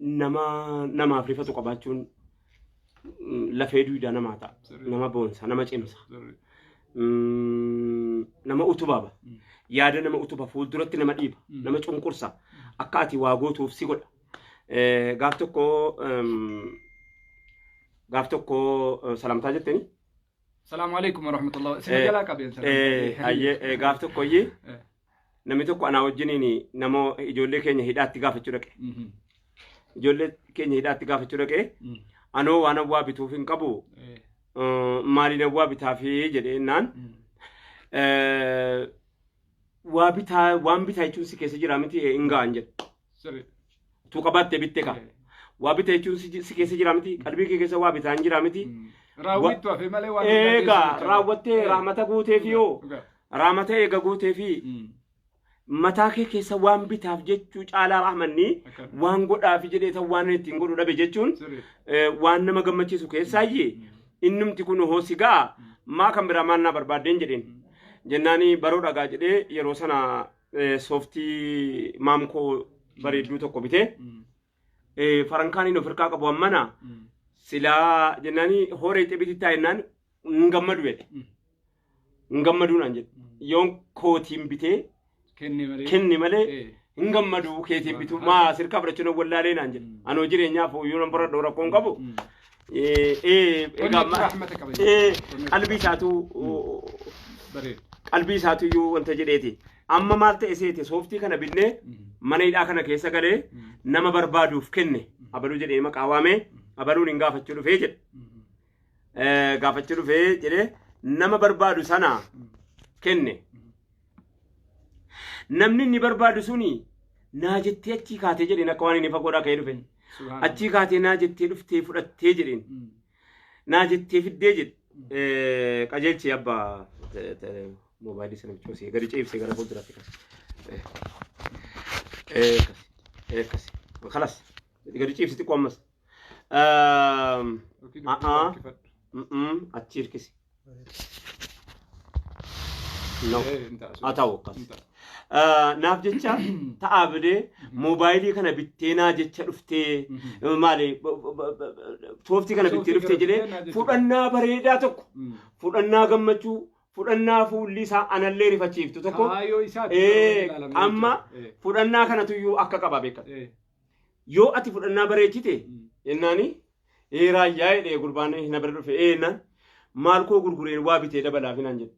nama namaaf rifatu qabaachuun mm, lafee duudaa namaa ta'a. Sirrii. Nama boonsa, nama cimsa, Sirrii. mm, nama utubaaba. Mm. Yaada nama utuba fuulduratti nama dhiiba, Mm. nama cunqursa. Akka ati waa gootuuf si godha. Eh, Gaaf tokko em, gaaf tokko eh, salaamtaa jetteni. Salaamu alaikum warahmatullahi. Isin Eh, jalaa qabeen Eh, ayyee, eh, gaaf tokko iyyee Eh. Namni tokko anaa wajjiniin nama ijoollee keenya hidhaatti gaafachuu dhaqe. Mhm. Ijoollee keenya hidhaatti gaafachuu dhaqe. Mm. Anoo waan awwaa bituuf hin qabu. Eh. eh, Maaliin awwaa bitaafi jedhee naan. Mm. eh, Waa bitaa waan bitaa jechuun si keessa jira miti hin ga'an jedhe. Sirri. Tuu qabaatte bitte kaa. Waa bite jechuun si si keessa jira miti. Qalbii kee keessa waa bitaan jira miti. Raawwittu hafee malee waan hundaa keessa Eegaa hin qabu. raawwattee Eh, raamata guutee fi yoo dhugaa. raamata eega guutee fi Mm. mataa kee keessa waan bitaaf jechuu caalaa rahmanni Akkana. waan godhaafi jedhee tan waan inni ittiin godhu dhabe jechuun Sirri. eh, waan nama gammachiisu keessaayyee innumti kun hoo si ga'a maa kan biraa maal naa barbaaddeen jedheen jennaani baroo dhagaa jedhee yeroo sana eh, sooftii maamkoo bareedduu tokko bitee Mm. eh, farankaan inni ofirkaa qabu ammana Mm. silaa jennaani horee xibiti taa jennaan hin gammadu jedhe Mm. hin gammaduu naan jedhe Mm. yoon kootiin bitee Kenne malee. kenne malee Eh. hin gammadu keetiin bitu maa sirkaa fudhachuu nan wallaalee naan jedhe Mm. anoo jireenyaaf hoyyuu nan baradhu rakkoon qabu Mm. Egaa qalbii isaatu qalbii isaatu iyyuu wanta jedheeti. Amma maal ta'e seete sooftii kana binnee mana hidhaa kana keessa galee nama barbaaduuf kenne abaluu jedhee maqaa waamee abaluun hin gaafachuu dhufee jedhe. Gaafachuu dhufee jedhee nama barbaadu sana kenne. Namni inni barbaadu suni naa jettee achii kaatee jedheen akka waan inni fagoodhaa ka'ee dhufe. Achii kaatee naa jettee dhuftee fudhattee jedheen. Naa jettee fiddee jedhe. Qajeelchee abbaa moobaayilii sana bichoosee gadi ceebisee gara fuulduraatti kasi. Kasi. Kasi. Kalas. Gadi ceebisi xiqqoo ammas. Ahaa. Achi hirkisi. No. Haa ta'u akkas. Ah, Naaf jecha ta'aa bidee moobaayilii kana bittee naa jecha dhuftee maali b- b- b- b- sooftii kana bittee dhuftee jedhee fudhannaa bareedaa tokko fudhannaa gammachuu fudhannaa fuulli isaa anallee rifachiiftu tokko Kaayoo isaa ee, amma fudhannaa kanatu iyyuu akka qaba beekan yoo ati fudhannaa bareechite jennaani ee raayyaa jedhee gurbaan na bira dhufe ee naan maal koo gurgureen waa bitee dabalaaf naan jedhe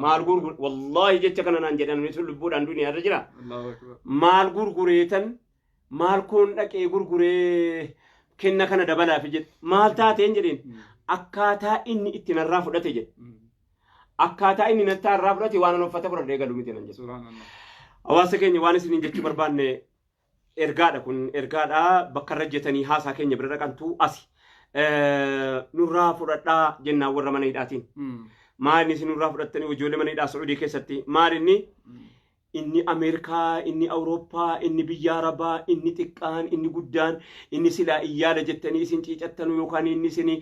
maal gurgur wallaahi jecha kana naan jedhan nuti lubbuudhaan duniyaa irra jira Allahu akbar. maal gurgureetan maal koon dhaqee gurguree kenna kana dabalaaf jedhe maal taateen jedheen akkaataa inni itti narraa fudhate jedhe Mm. akkaataa inni nattaa irraa fudhate waan an uffata fudhadhee galu miti nan jedhe Subhanallah. hawaasa keenya waan isiniin jechuu barbaanne Ergaadha kun ergaadha bakka irra jetanii haasaa keenya bira dhaqantu asi. Nurraa fudhadhaa jennaan warra mana hidhaatiin. Maal isin nurraa fudhattanii ijoollee mana hidhaa Sacuudii keessatti maal inni inni Ameerikaa, inni Awurooppaa, inni biyya Arabaa, inni xiqqaan, inni guddaan, inni silaa iyyaala jettanii isin ciicattanu yookaan inni isin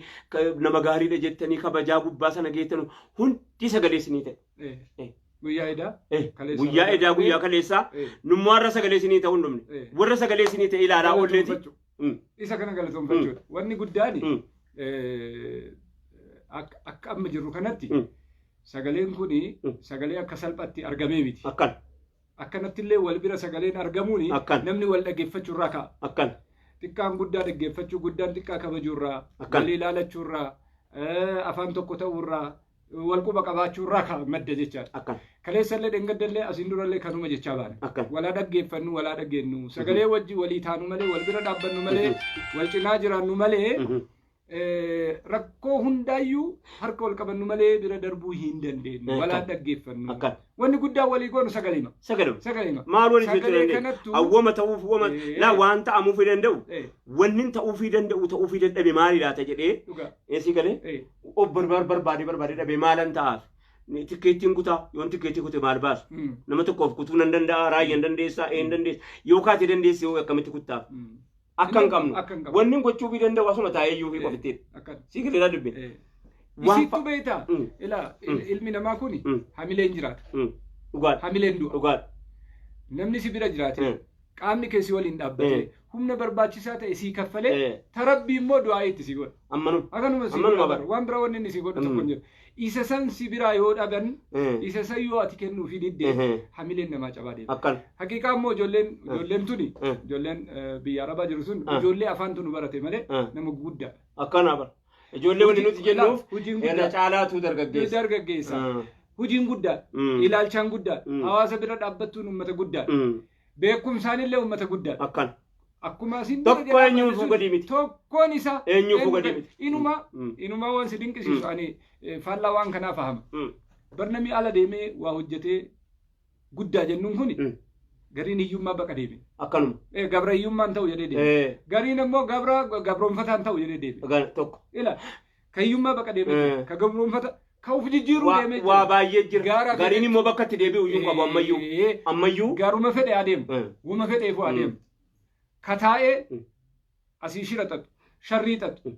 nama gaariidha jettanii kabajaa gubbaa sana geettanu hundi sagalee isinii ta'e. Eh, Eh. Guyyaa idaa. Eh, kaleessa guyyaa irraa edaa guyyaa darbee, kaleessaa eh, nummaa irra sagalee isinii ta'uu hin dhumne eh, warra sagalee isinii ta'e ilaalaa oolleeti galatoomfachuu. Mm. Isa kana galatoomfachuudha. Wanni guddaan Mm. eh, akka akka amma jirru kanatti Mm. sagaleen kun Mm. sagalee akka salphatti argamee miti. akkan Akkanatti illee wal bira sagaleen argamuun Akkan. namni wal dhaggeeffachuu irraa ka'a. akkan Xiqqaan guddaa dhaggeeffachuu, guddaan xiqqaa kabajuu irraa, Akkan. walii ilaalachuu irraa, eh, afaan tokko ta'uu irraa, wal quba qabaachuu irraa ka- madda jechaadha. Akkan. Kaleessallee dhengaddallee asiin durallee kanuma jechaa baana. Akkan. Walaa dhaggeeffannu, walaa dhageennu, sagalee wajji walii taanu malee, wal bira dhaabbannu malee, wal cinaa jiraannu malee, Mhm. eh, rakkoo hundaayyuu harka wal qabannu malee bira darbuu hin dandeenyu. Akkan. Walaa dhaggeeffannu. Akkan. Wanni guddaan walii goonu sagalima. Sagaluma. Sagalima. Maal waliif jechuu Sagalee dandeenya? kanattu- Awwama ta'uuf wama Eh. laa waan ta'amuufii danda'u Eh, wannin ta'uufii danda'u ta'uufii dadhabe maali laata jedhee dhugaa. eesii galee Eh. of barbaar barbaadee barbaadee dhabee maalan ta'aaf tikkeettiin kutaa yoon tikkeettii kute maal baasa Mm. nama tokkoof kutuu nan danda'a raayyan dandeessaa een dandeessa yoo kaate dandeessi yoo akkamitti kuttaaf Mm. akka hin qabnu Akka hin qabnu. wanni gochuu fi danda'u asuma taa'ee iyyuu fi qofitti Akka- sii galeeraa dubbe Eh. Waan Isiittu fa- beektaa? Mm. Ilaa Mm. ilmi namaa kun Mm. hamileen jiraata. dhugaadha Hamileen du'a. dhugaadha Namni si bira jiraate Mm. qaamni kee si waliin dhaabbatee Eh. humna barbaachisaa ta'e sii kaffalee Eh. tarabbii immoo du'aa'ii itti si godha. Ammanu. Akkanuma si Ammanuma godha bara. bara. Waan biraa wanni inni si godhu tokko Mm. hin jiru. Isa san si biraa yoo dhaban Eh. isa san yoo ati kennuufii didde Ehe. hamileen namaa cabaa deema. Akkan. Haqiiqaa immoo ijoolleen ijoolleen tuni Eh. ijoolleen eh, biyya arabaa jiru sun Eh. ijoollee afaan tunu barate malee Eh. nama guddaa. Akkana bara. Ijoollee wanti nuti jennuuf Hojiin irra guddaa. caalaatu Ni dargaggeessa. dargaggeessa. Ah. Hojiin guddaa. Mm. Ilaalchaan guddaa. Mm. Hawaasa bira dhaabbattuun uummata guddaa. Mm. Beekumsaan illee uummata guddaa. Akkan. Akkuma isin Tokko dura eenyuun jedhaman fuu gadi miti. Tokkoon isaa Eenyuun fuu gadi miti. Inuma Mm. inuma waan si dinqisiisu Mm. ani eh, faallaa waan kanaa fahama. Mm. Barnamii ala deemee waa hojjetee guddaa jennuun kuni Mm. gariin hiyyummaa baqa deebi'e. Akkanuma. Eh, Gabra hiyyummaan ta'u jedhee deebi'e. Eh, Gariin ammoo gabra gabroonfataan ta'u jedhee deebi'e. gara tokko. Ila ka hiyyummaa baqa deemee jira. Eh. Ka gabroonfata ka of jijjiiruu Waa deemee waa baay'ee jira. Gaara Gariin fedhe- immoo bakka itti deebi'u iyyuu qabu ammayyuu. Eh, Ammayyuu. Garuma fedhe adeemu. Eh. Wuma fedheefu Mm. adeemu. Ka taa'ee Mm. asii shira xaxu, sharrii xaxu,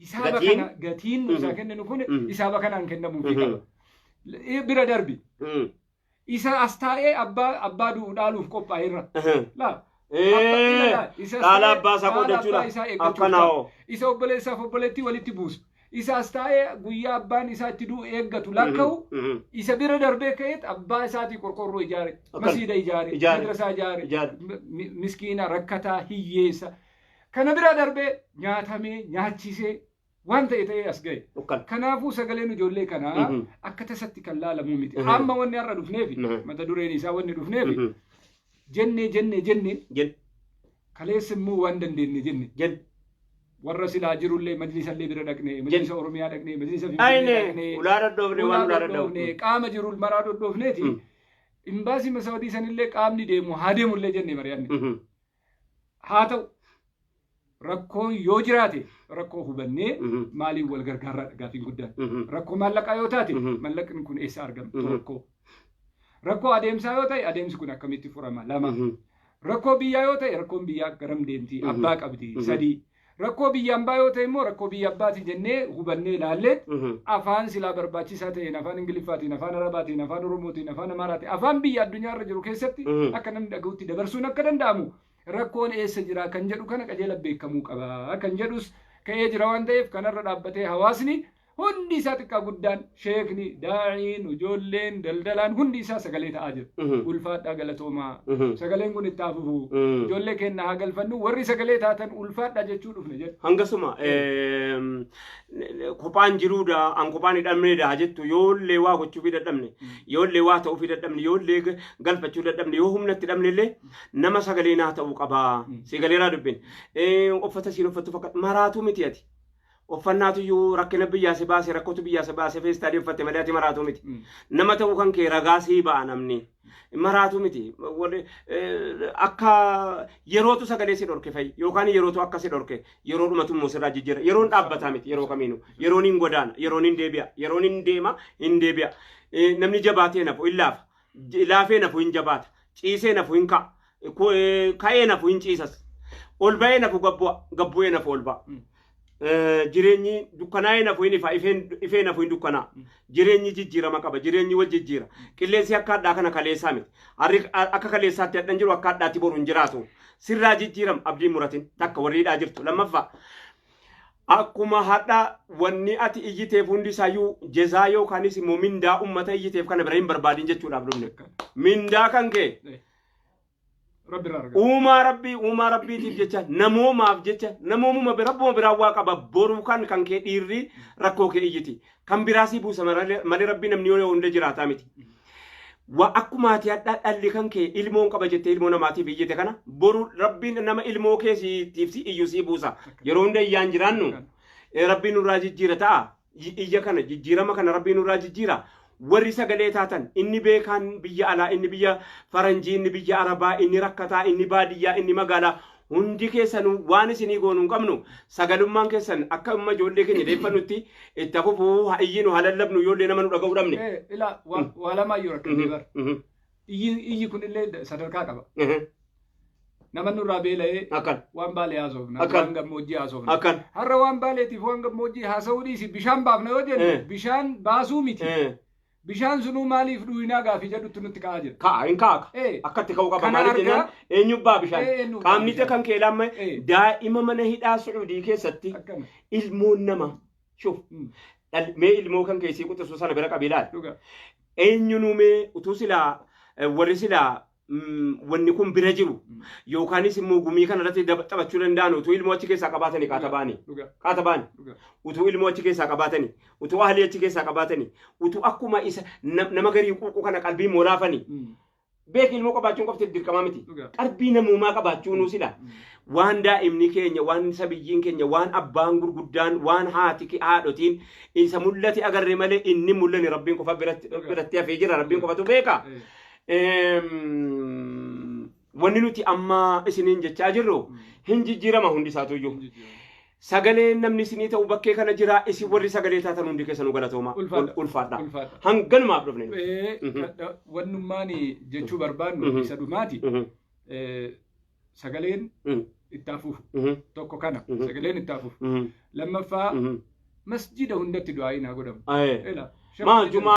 Hisaaba Gatiin- kana gatiin nu isaa Mhm. kenninu kun Mhm. hisaaba kanaan kennamuufi Mhm. qaba. Eh, Bira darbi. Mm. Isa as taa'ee abbaa abbaa du'u dhaaluuf qophaa'eerra. Ahem. Laa. Ee, Abba- ilaala, isa as dhaala taa'ee abbaa isaa dhaala abbaa qoodachuudha. isaa eeggachuuf Akkana ta'a. hoo. Isa obboleessaaf obboleettii walitti buusu. Isa as taa'ee guyyaa abbaan isaa itti du'u eeggatu lakka'u. Mhm. Isa bira darbee ka'eet abbaa isaatii qorqorroo ijaare. Akkana. Masiida ijaare. Ijaare. Madrasaa ijaare. Ijaare. mi- mi- Miskiina, rakkataa, hiyyeessa. Kana bira darbee nyaatamee, nyaachisee waan ta'e ta'ee as ga'e. Dhukkana. Kanaafuu sagaleen ijoollee kanaa Mhm. akka tasatti kan laalamuu miti. Mhm. Amma wanni har'a dhufneefi Mhm. mata dureen isaa wanni dhufneefi Mhm. jennee jennee jennee Jen- kaleessa immoo waan dandeenye jenne jen- warra silaa jirullee majlisallee bira dhaqne majlisa oromiyaa dhaqne majlisa Ayne, finfinnee dhaqne ulaa dhadhoofne, waan ulaa dhadhoofne. dhadhoofne, qaama jiru maraa dhadhoofneeti Mm. imbaasii masawadii sanillee qaamni deemu haa deemullee jenne mari'anne Mhm. Haa ta'u rakkoon yoo jiraate rakkoo hubannee Mhm. maaliin wal gargaarraadha gaafiin guddaan. Mhm. Rakkoo maallaqaa yoo taate Mhm. mallaqni kun eessaa argama Mhm. tokko. Rakkoo adeemsaa yoo ta'e adeemsi kun akkamitti furama lama. Mhm. Rakkoo biyyaa yoo ta'e rakkoon biyyaa garam deemti Mhm. abbaa qabdi Mhm. sadii. Rakkoo biyya ambaa yoo ta'e immoo rakkoo biyya abbaati jennee hubannee ilaallee afaan silaa barbaachisaa ta'een afaan Ingiliffaatiin, afaan Arabaatiin, afaan Oromootiin, afaan Amaaraatiin, afaan biyya addunyaa irra jiru keessatti akka namni dhaga'utti dabarsuun akka danda'amu rakkoon eessa jira kan jedhu kana qajeela beekamuu qaba kan jedhus ka'ee jira waan ta'eef kanarra dhaabbatee hawaasni Hundi isaa xiqqaa guddaan, sheekni, daa'iin, ijoolleen, daldalaan hundi isaa sagalee ta'aa jira. Mhm. Ulfaadhaa galatoomaa. Mhm. Sagaleen kun itti haa fufu. Mm. Ijoollee keenya haa galfannu. Warri sagalee taatan ulfaadhaa jechuu dhufne jedha. Hangasuma eem, kophaan jiruudha, an kophaan hidhamneedha jettu yoollee waa gochuufii dadhabne, yoollee waa ta'uufii dadhabne, yoollee ga- galfachuu dadhabne, yoo humna itti dhabne illee nama sagalee naa ta'uu qabaa. Sigaleeraa dubbin. Ee, Uffata siin uffattu fakkaatu maraatuu miti ati. Uffannaatuyyuu rakkina biyyaa si baase rakkotu biyyaa si baase feestaalii uffatte malee ati maraatuu miti. Nama ta'uu kan kee ragaa sii ba'a namni. Maraatuu miti. Wal- eh, Akka yerootu sagalee si dhorke fa'i yookaan yerootu akka si dhorke yeroo dhumatu immoo sirraa jijjiira. Yeroon dhaabbataa miti yeroo kamiinu. Yeroon hin godaana. Yeroon hin deebi'a. Yeroon hin deema hin deebi'a. Eh, Namni jabaatee nafu hin laafa. J- Laafee nafu hin jabaata. Ciisee nafu hin ka'a. Ku- eh, Ka'ee nafu hin ciisas. Ol ba'ee nafu gabbu'a. Gabbu'ee nafu ol ba'a. Mm. Eh, Jireenyi dukkanaa'ee nafu hin ifa. Ifeen- Ifee nafu hin dukkanaa'a. Mm. Jireenyi jijjiirama qaba. Jireenyi wal jijjiira. Qilleensi akka hadhaa kana kaleessaa miti. Harri a- akka kaleessaatti hadhan jiru akka hadhaatti boru hin jiraatu. Sirraa jijjiiram abdiin muratin takka warri hidhaa jirtu. Lammaffaa Akkuma hadha wanni ati iyyiteef hundi isayyuu jezaa yookaanis immoo mindaa ummata iyyiteef kana bira hin barbaadin jechuudhaaf dhumne. Mindaa kan kee Rabbi irraa argata. uumaa rabbii uumaa rabbiitiif jecha namoomaaf jecha namoomuma bira rabbuma biraa waa qaba boru kan kan kee dhiirri rakkoo kee iyyiti kan biraa sii buusa maralee- malee rabbi namni yoo hunda jiraataa miti. Wa akkuma ati hadhaa dhalli kan kee ilmoon qaba jettee ilmoo namaatiif iyyite kana boru rabbiin nama ilmoo kee siitiif si iyyu sii buusa. Yeroo hunda iyyaan jiraannu eh, rabbiin nurraa jijjiira ta'a. I- Iyya kana jijjiirama kana rabbiin nurraa jijjiira. Warri sagalee taatan inni beekaan biyya alaa inni biyya faranjii inni biyya arabaa inni rakkataa inni baadiyyaa inni magaalaa Hundi keessanuu waan isinii goonu hin qabnu. Sagalummaan keessan akka amma ijoollee keenya deeffannutti itti haa fufu, haa iyyinu, haa lallabnu ijoollee nama nu dhaga'uu dhabne. Eh, ila wa, waa lamaayyuu rakkannee bara. Mhm. Iyyi, iyyi kun illee da- sadarkaa qaba. Mhm. Nama nurraa beela'ee Akkan. waan baalee haasofna, Akkan. waan gammoojjii haasofna. Akkan. Har'a waan baaleetiif waan gammoojjii haasa'uu dhiisi bishaan baafna yoo jennu Eh. bishaan baasuu miti. Eh. Bishaan sunuu maaliif dhuwinaa gaafii jedhutti nutti ka'aa jira. Ka'a hin ka'a. Ee. Akkatti ka'uu qaba. Kana Maaliif argaa- jennaan eenyubbaa bishaan. Ee, eenyubbaa Qaamni bishaan. kan kee laamma Ee. daa'ima mana hidhaa Sucuudii keessatti Akkana. ilmoon nama. Shuf. Mm. Dhal- Mee ilmoo kan keessii quxisuu sana bira qabii laal. Dhugaa. Eenyunuumee utuu silaa eh, warri silaa mm, wanni kun bira jiru Mm. yookaanis immoo gumii kana irratti dab- taphachuu danda'an utuu ilmoo achi keessaa qabaatanii kaatabaani Dhugaa. kaatabaani Dhugaa. utuu ilmoo achi keessaa qabaatanii utuu ahlii achi keessaa qabaatanii utuu akkuma isa nam- nama garii quuquu kana qalbii moolaafanii Mm. beeki ilmoo qabaachuun qofti dirqamaa miti Dhugaa. qalbii namummaa qabaachuunuu sila Mm. waan daa'imni keenya waan sabiyyiin keenya waan abbaan gurguddaan waan haati ke- haadhotiin isa mul'ate agarre malee inni mul'anne rabbiin qofa biratti Dhugaa. biratti hafee jira rabbiin qofatu beeka Eh. wanni nuti amma isiniin jechaa jirru hin jijjiirama hundi isaatu iyyuu. Sagalee namni isinii ta'u bakkee kana jira isin warri sagalee taatan hundi keessanuu galatooma. Ulfaadha. Ulfaadha. Ulfaadha. Hanganumaaf dhufne. nuti. Eh, Mhm. ka- da- Wannummaan jechuu barbaannu Mhm. isa dhumaati. Mhm, Eh, Sagaleen mhm, itti hafuuf mhm, tokko kana. Mhm. Sagaleen itti hafuuf. mhm, Lammaffaa mhm. masjida hundatti du'aa'iin haa godhamu. Aye. Ela, Maa shakku- jumaa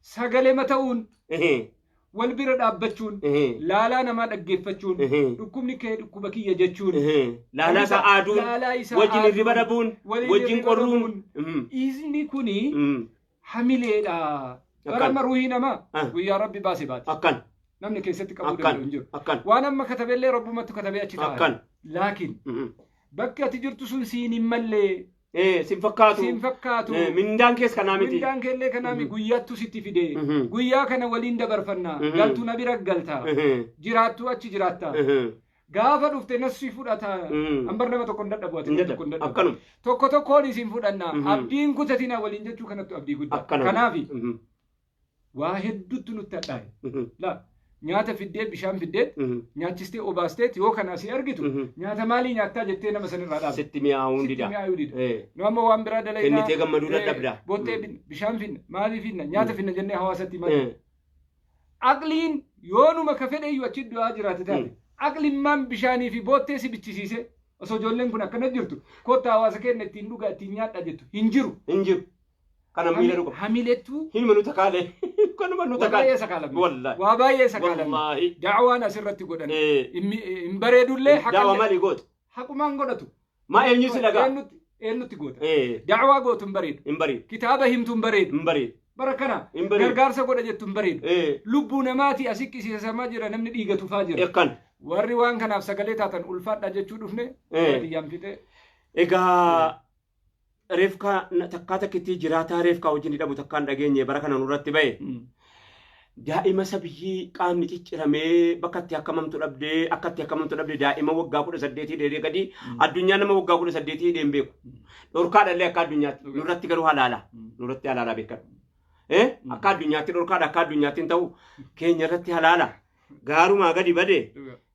sagalema ta'uun Ehe. wal bira dhaabbachuun Ehe. laalaa namaa dhaggeeffachuun Ehe. dhukkubni kee dhukkuba kiyya jechuun Ehe. Laalaa isaa aaduun. Laalaa isaa Wajjin aaduun. hirriba dhabuun. Waliin Wajjin hirriba qorruun. dhabuun. Mhm. Dhiisni kuni Mhm. hamileedha. Bara Akkan. amma ruuhii namaa Ah. guyyaa rabbi baase baate. Akkan. Namni keessatti qabuu Akkan. danda'u hin jiru. Akkan. Waan amma katabellee rabbumattu katabee achi ta'a. Akkan. Laakiin Mhm. bakki ati jirtu sun siin hin mallee Eh, sin fakkaatu. Siin fakkaatu. Eh, mindaan kees kanaa miti. Mindaan keellee kanaa mi guyyaattu sitti fide. Mhm. Guyyaa kana waliin dabarfanna. Mhm. Galtu na bira galta. Mhm. Jiraattu achi jiraatta. Mhm. Gaafa dhufte nas si fudhata. Mhm. Ambar nama tokko hin dadhabu ati Hin nama tokko hin dadhabu. dadhabu. Akkanuma. Tokko tokkoon isin fudhanna. Mhm. Abdiin kutatina waliin jechuu kanattu abdii guddaa. Akkanuma. Kanaafi Mhm. waa hedduutu nutti hadhaa'e. Mhm. La nyaata fiddee bishaan fiddee Mhm. nyaachistee obaasteet yoo kana asii argitu Mhm. nyaata maalii nyaattaa jettee nama sanirraa dhaabde. Sitti mi'aawuun Sitti dida. mi'aayuu dida. Eh. Nu amma waan biraa dalaynaa. Kennitee gammaduu eh, dadhabda. Boottee Mm. finna, bishaan finna, maalii finna, nyaata finna jennee hawaasatti maal Eh. Aqliin yoonuma ka fedhe iyyuu achi du'aa jiraate taate. Mm. Aqlimmaan bishaanii fi boottee si bichisiise osoo ijoolleen kun akkana jirtu kottaa hawaasa keenya ittiin dhugaa ittiin nyaadhaa jettu hin jiru. Hin jiru. Kana miila dhuga. Hamilettu. Hinuma nu takaale. Kanuma nu takaale. Wabaay'ee sakaalame. Wallahi. Wabaay'ee sakaalame. Wallahi. Da'awaan asirratti godhan. Hin bareedullee haqallee. Da'awa mali gootu. Haqumaan godhatu. Maa eenyu si dhagaa. Eenyutti eenyutti goota. Da'awaa gootu hin bareedu. Hin bareedu. Kitaaba himtu hin bareedu. Hin bareedu. Bara kana gargaarsa godha jettu hin bareedu. Lubbuu namaati asi qisiisamaa jira namni dhiiga tufaa jira. Kan. Warri waan kanaaf sagalee taatan ulfaadha jechuu dhufne. Baadiyyaan fixee. Egaa Reefkaa na- takkaa takkittii jiraataa reefkaa wajjin hidhamu takkaa hin dhageenye bara kana nurratti ba'e. Daa'ima sabiyyii qaamni cicciramee bakka itti akkamamtu dhabdee akka itti akkamamtu dhabdee daa'ima waggaa kudha saddeetii dheedee gadii addunyaa nama waggaa kudha saddeetii hidhee hin beeku. Dhorkaadha illee akka addunyaatti nurratti garuu halaala nurratti halaala beekadhu. Eh? Akka addunyaatti dhorkaadha akka addunyaatti hin ta'u keenya irratti halaala gaarumaa gadi bade